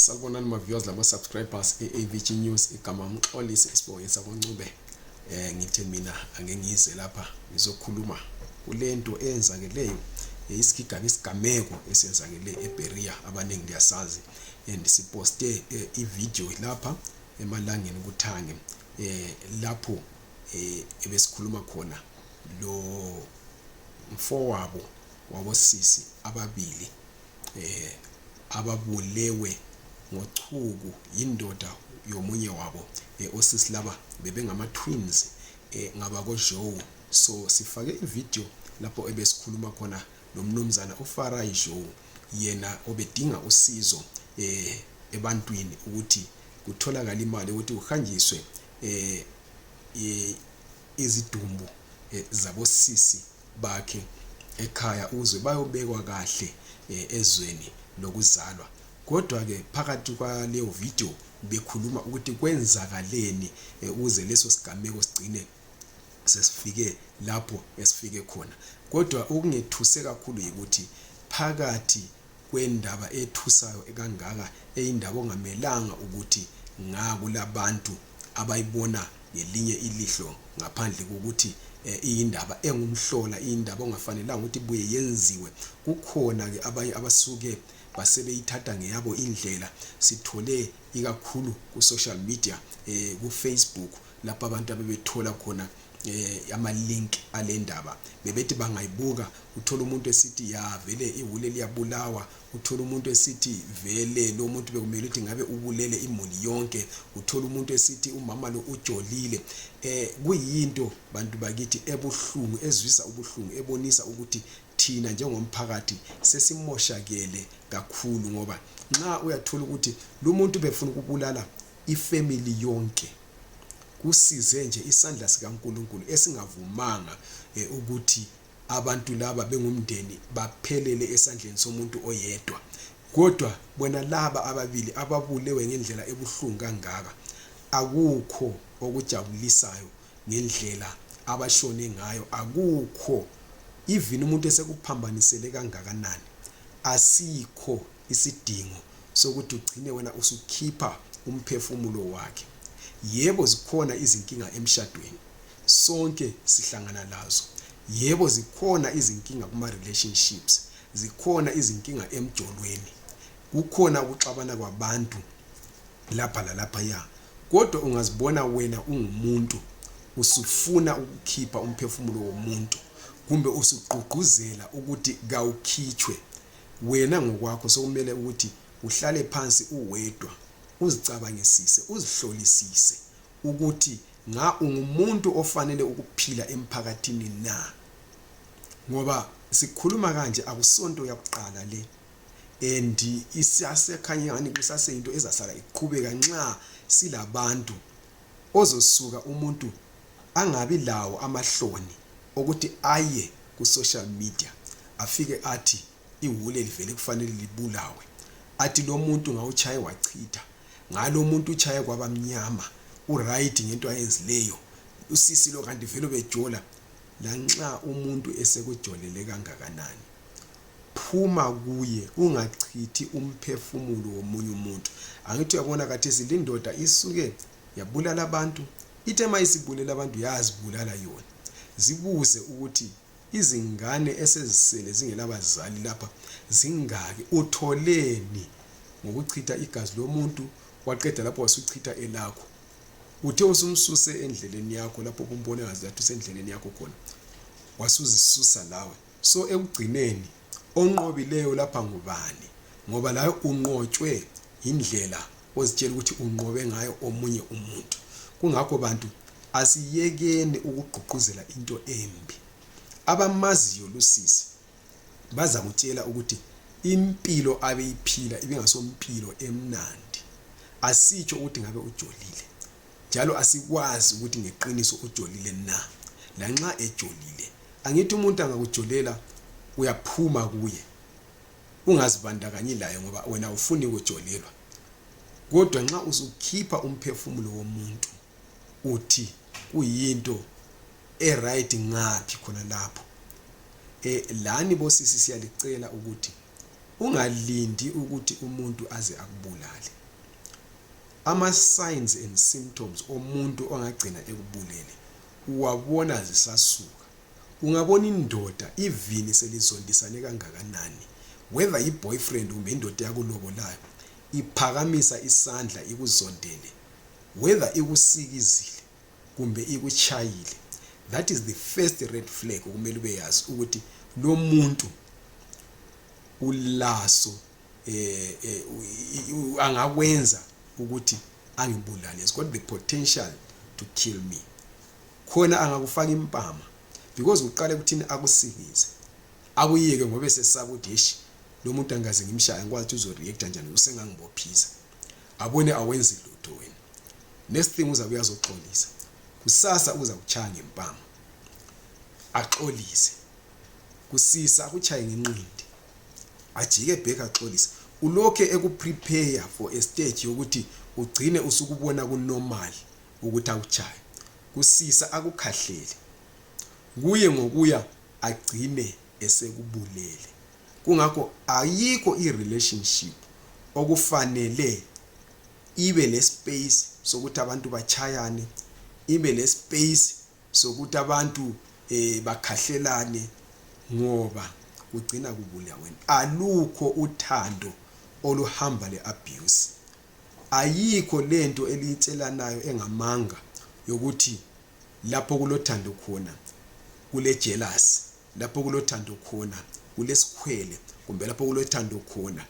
Sakubonani ma viewers lama subscribers eAVG News igama umxolisi isibonge sakoncube eh ngithe mina ake ngize lapha ngizokhuluma kulento eyenzakeleyo isigigaba isigameko esenzakele eBeria abaningi liyasazi and siposte eh, ivideo lapha emalangeni kuthange eh lapho eh ebesikhuluma khona lo mfowabo wabosisi ababili eh, ababulewe ngochuku yindoda yomunye wabo eh, osisi laba bebengama twins eh, ngabakojowu so sifake ividiyo lapho ebesikhuluma khona lomnumzana ufarai jowu yena obedinga usizo eh, ebantwini ukuthi kutholakala imali ukuthi kuhanjiswe eh, eh, izidumbu eh, zabosisi bakhe ekhaya ukuze bayobekwa kahle eh, ezweni lokuzalwa kodwa ke phakathi kwaleyo video bekhuluma ukuthi kwenzakaleni eh, ukuze leso sigameko sigcine sesifike lapho esifike khona kodwa okungethuse kakhulu yikuthi phakathi kwendaba ethusayo kangaka eyindaba ongamelanga ukuthi nga kulabantu abayibona ngelinye ilihlo ngaphandle kokuthi eh, iyindaba engumhlola iyindaba ongafanelanga ukuthi buye yenziwe kukhona-ke abanye abasuke basebeyithatha ngeyabo indlela sithole ikakhulu ku-social media um kufacebook lapho abantu abebethola khona eh ama link alendaba bebethi bangayibuka uthola umuntu esithi ya vele ihule liyabulawa uthola umuntu esithi vele lo muntu bekumele ukuthi ngabe ubulele imuli yonke uthola umuntu esithi umama lo ujolile eh kuyinto bantu bakithi ebuhlungu ezwisa ubuhlungu ebonisa ukuthi thina njengomphakathi sesimoshakele kakhulu ngoba nxa uyathola ukuthi lo muntu befuna ukubulala ifamily yonke kusize nje isandla sikaNkulunkulu esingavumanga eh, ukuthi abantu laba bengumndeni baphelele esandleni somuntu oyedwa kodwa bona laba ababili ababulewe ngendlela ebuhlungu kangaka akukho okujabulisayo ngendlela abashone ngayo akukho even umuntu esekuphambanisele kangakanani asikho isidingo sokuthi ugcine wena usukhipha umphefumulo wakhe yebo zikhona izinkinga emshadweni sonke sihlangana lazo yebo zikhona izinkinga kuma relationships zikhona izinkinga emjolweni kukhona ukuxabana kwabantu lapha lalapha ya kodwa ungazibona wena ungumuntu usufuna ukukhipha umphefumulo womuntu kumbe usugqugquzela ukuthi kawukhitshwe Wena ngokwakho sokumele ukuthi uhlale phansi uwedwa uzicabangisise uzihlolisise ukuthi nga ungumuntu ofanele ukuphila emphakathini na ngoba sikhuluma kanje akusonto yakuqala le and isasekhanye ngani kusaseyinto ezasala iqhubeka nxa silabantu ozosuka umuntu angabi lawo amahloni okuthi aye ku social media afike athi iwule livele kufanele libulawe athi lomuntu ngawutshaye wachitha ngalo umuntu utshaye kwaba mnyama uright ngento ayenzileyo usisi lo kanti vele bejola lanxa umuntu esekujolele kangakanani phuma kuye ungachithi umphefumulo womunye umuntu angithi uyabona kathesi lindoda isuke yabulala abantu Ithe ma isibulele abantu yazibulala yona. Zibuze ukuthi izingane esezisele zingelabazali lapha zingaki utholeni ngokuchitha igazi lomuntu waqeda lapho wasuchitha elakho uthe usumsuse endleleni yakho lapho kumbone ngazi lathi usendleleni yakho khona wasuzisusa lawe So ekugcineni onqobileyo lapha ngubani ngoba laye unqotshwe yindlela ozitshela ukuthi unqobe ngayo omunye umuntu kungakho bantu asiyekeni ukugqugquzela into embi abamaziyo lusisi bazakutshela ukuthi impilo abeyiphila ibingasompilo emnandi asitsho ukuthi ngabe ujolile njalo asikwazi ukuthi ngeqiniso ujolile na lanxa ejolile Angithi umuntu angakujolela uyaphuma kuye ungazibandakanyi laye ngoba wena ufuni kujolelwa kodwa nxa usukhipha umphefumulo womuntu uthi kuyinto eright ngaphi khona lapho e, lani bosisi siyalicela ukuthi ungalindi ukuthi umuntu aze akubulale ama-signs and symptoms omuntu ongagcina ekubulele Uwabona zisasuka. Ungabona indoda ivini selizondisane kangakanani whether yi boyfriend kumbe indoda eyakulobolayo iphakamisa isandla ikuzondele whether ikusikizile kumbe ikutshayile that is the first red flag kumele ube yazi ukuthi lomuntu ulaso eh, eh, angakwenza ukuthi angibulale has got the potential to kill me khona angakufaka impama because kuqale kuthini akusikize akuyeke ngoba esesaba ukuthi heshi lo muntu angikaze ngimshaya ngikwazi ukuthi uzoreacta njani usengangibophisa abone awenzi lutho wena next thing uzabe uyazoxolisa kusasa uza kuchaya ngempama axolise kusisa akuchaye ngenqindi ajike back axolise ulokhe ekuprepare for a stage yokuthi ugcine usukubona kunormal ukuthi akutshaye kusisa akukhahlele kuye ngokuya agcine esekubulele kungakho ayikho i-relationship okufanele ibe lespace sokuthi abantu batshayane ibe lespace sokuthi abantu eh bakhahlelane ngoba kugcina kubulaweni alukho uthando oluhamba le abuse ayikho lento eliyitshelanayo engamanga yokuthi lapho kulothando khona kule jealous lapho kulothando khona kulesikhwele kumbe lapho kulothando khona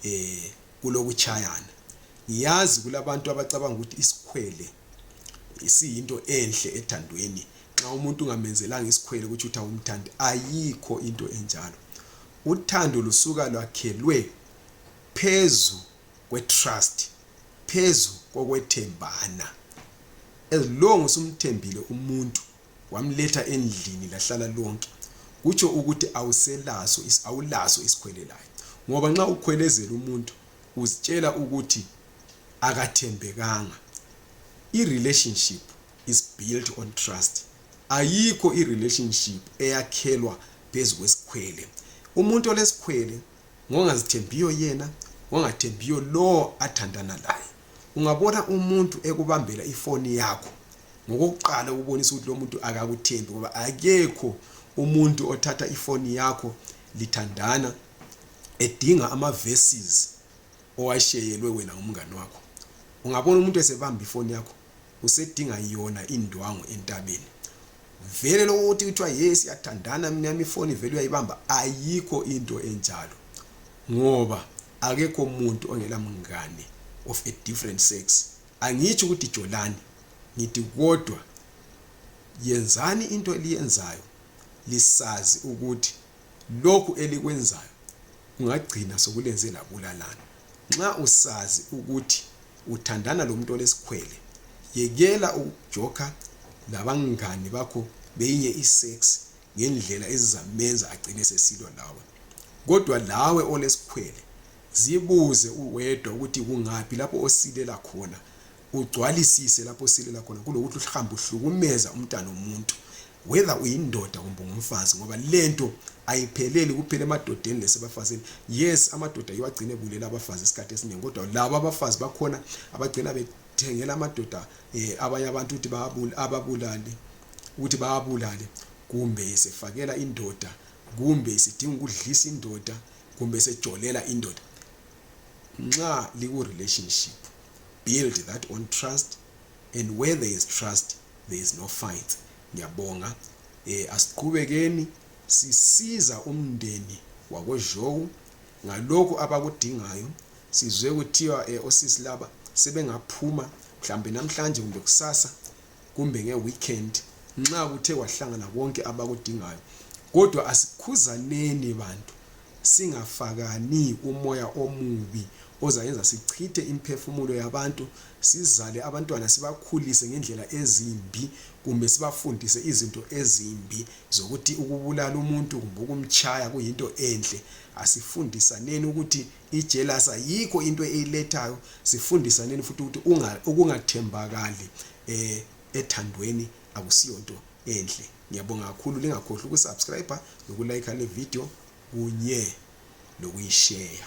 eh kulokuchayana ngiyazi kulabantu abacabanga ukuthi isikhwele isiyinto enhle ethandweni nxa umuntu ungamenzelanga isikhwele ukuthi uthi awumthandi ayikho into enjalo uthando lusuka lwakhelwe phezu kwetrust phezu kokwethembana as long usumthembile umuntu wamletha endlini lahlala lonke kutsho ukuthi awuselaso awulaso isikhwele layo ngoba nxa ukhwelezela umuntu uzitshela ukuthi akathembekanga i relationship is built on trust ayikho i relationship eyakhelwa phezu kwesikhwele umuntu olesikhwele ngongazithembiyo yena ngongathembiyo lowo athandana laye ungabona umuntu ekubambela ifoni yakho ngokokuqala ukubonisa ukuthi lo muntu akakuthembi ngoba akekho umuntu othatha ifoni yakho lithandana edinga ama-verses owasheyelwe wena ngumngane wakho ungabona umuntu esebamba ifoni yakho usedinga yona indwangu entabeni vele lokho ukuthi kuthiwa ye siyathandana mina yami ifoni vele uyayibamba ayikho into enjalo ngoba akekho muntu ongela mngane of a different sex angitsho ukuthi jolani ngithi kodwa yenzani into eliyenzayo lisazi ukuthi lokhu elikwenzayo ungagcina sokulenze labulalana nxa usazi ukuthi uthandana lomuntu olesikhwele yekela ukujoka labangani bakho beyinye isex ngendlela ezizamenza agcine sesilwa lawe kodwa lawe olesikhwele zibuze uwedwa ukuthi kungaphi lapho osilela khona ugcwalisise lapho osilela khona kulokuthi uhambe uhlukumeza umntana womuntu whether uyindoda kumbe ungumfazi ngoba lento ayipheleli kuphela emadodeni lesebafazini yes amadoda yiwo agcine ebulela abafazi isikhathi esiningi kodwa labo abafazi bakhona abagcina bethengela amadoda um abanye abantu ukuthi ababulale ukuthi bawabulale kumbe isifakela indoda kumbe isidinga ukudlisa indoda kumbe sejolela indoda nxa liku-relationship build that on trust and where there is trust there is no fight ngiyabonga eh asiqhubekeni sisiza umndeni wakoJowu ngalokho abakudingayo sizwe kuthiwa eh, osisi laba sebengaphuma mhlambe namhlanje kumbe kusasa kumbe ngeweekend nxa kuthe kwahlangana konke abakudingayo kodwa asikhuzaneni bantu Singafakani umoya omubi ozayenza sichithe imphefumulo yabantu sizale abantwana sibakhulise ngendlela ezimbi kumbe sibafundise izinto ezimbi zokuthi ukubulala umuntu kumbe ukumtshaya kuyinto enhle asifundisaneni ukuthi ijelasa yikho into eyilethayo sifundisaneni futhi ukuthi ukungathembakali um ethandweni akusiyonto enhle ngiyabonga kakhulu lingakhohlwa ukusubscribe nokulayikha le video kunye lokuyisheya